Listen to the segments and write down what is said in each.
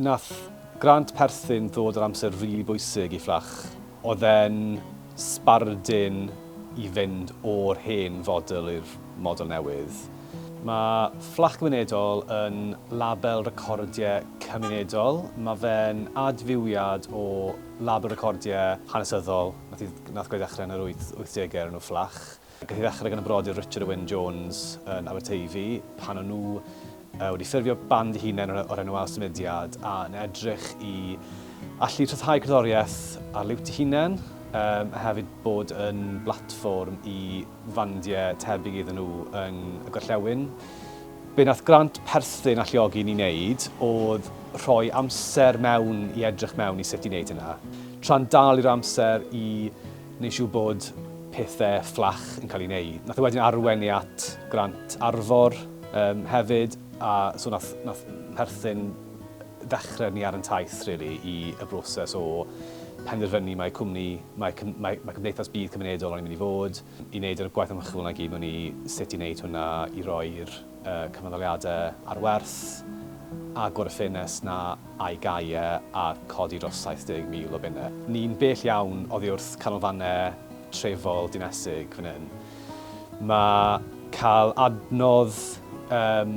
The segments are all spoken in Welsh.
Nath grant perthyn ddod ar amser rili bwysig i Fflach. Oedd e'n sbardun i fynd o'r hen fodel i'r model newydd. Mae Fflach Gymunedol yn label recordiau cymunedol. Mae fe'n adfywiad o label recordiau hanesyddol nath gwneud ddechrau yn yr wyth degau o'r enw Fflach. Gath ei ddechrau gan y brodyr Richard a Wyn Jones yn Aberteifi pan o'n nhw wedi ffurfio band eu hunain o'r enw Ail Symudiad a yn edrych i allu rhyddhau cerddoriaeth ar liwt eu hunain a hefyd bod yn blatfform i fandiau tebyg iddyn nhw yng y gorllewin. Be nath Grant perthyn alluogi ni wneud oedd rhoi amser mewn i edrych mewn i sut i wneud hynna, tra'n dal i'r amser i Nid siŵr bod pethau fflach yn cael ei wneud. Nath e wedyn arwain ni at grant Arfor yym hefyd a so nath nath perthyn ddechrau ni ar yn taith rili i y broses o penderfynu mai cwmni mai cym- mai mai cymdeithas budd cymunedol o'n i'n mynd i fod, i wneud yr gwaith ymchwil 'na i gyd mewn i sut i wneud hwnna i roi'r y cyfnodoliadau ar werth agor y ffenest 'na a'i gau e a chodi dros 70,000 o bunnau. Ni'n bell iawn oddi wrth canolfannau trefol dinesig fan hyn. Mae cael adnodd yym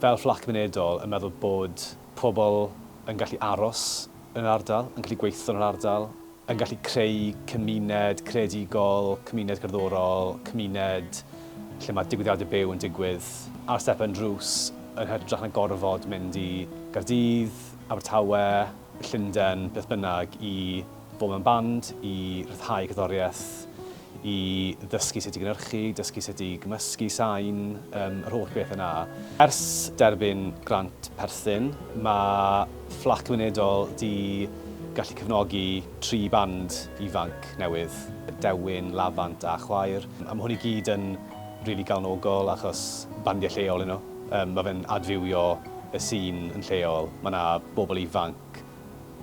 fel fflat cymunedol yn meddwl bod pobl yn gallu aros yn yr ardal, yn gallu gweithio yn yr ardal, yn gallu creu cymuned creadigol, cymuned cerddorol, cymuned lle mae digwyddiadau byw yn digwydd ar stepen drws yn hytrach na gorfod mynd i Gaerdydd, Abertawe, Llundain, beth bynnag, i fod mewn band, i ryddhau cerddoriaeth. i ddysgu sut i gynhyrchu, dysgu sut i gymysgu sain, yr holl beth yna. Ers derbyn grant perthyn, mae Fflat Gwynedol 'di gallu cefnogi tri band ifanc newydd, Dewin, Lafant a Chwaer. A mae hwn i gyd yn rili galonogol achos bandiau lleol 'yn nhw. Mae fe'n adfywio y sîn yn lleol, mae 'na bobl ifanc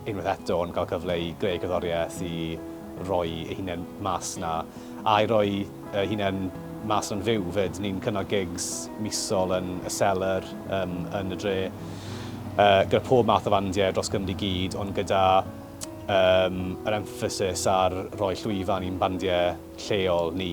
unwaith eto yn cael cyfle i greu cerddoriaeth, i roi ei hunain mas 'na, a i roi ei hunain mas yn fyw 'fyd. Ni'n cynnal gigs misol yn y Cellar, yym, yn y dre, yy, gyda pob math o fandiau dros Gymru i gyd, ond gyda, yym, yr emphasis ar roi llwyfan i'n bandiau lleol ni.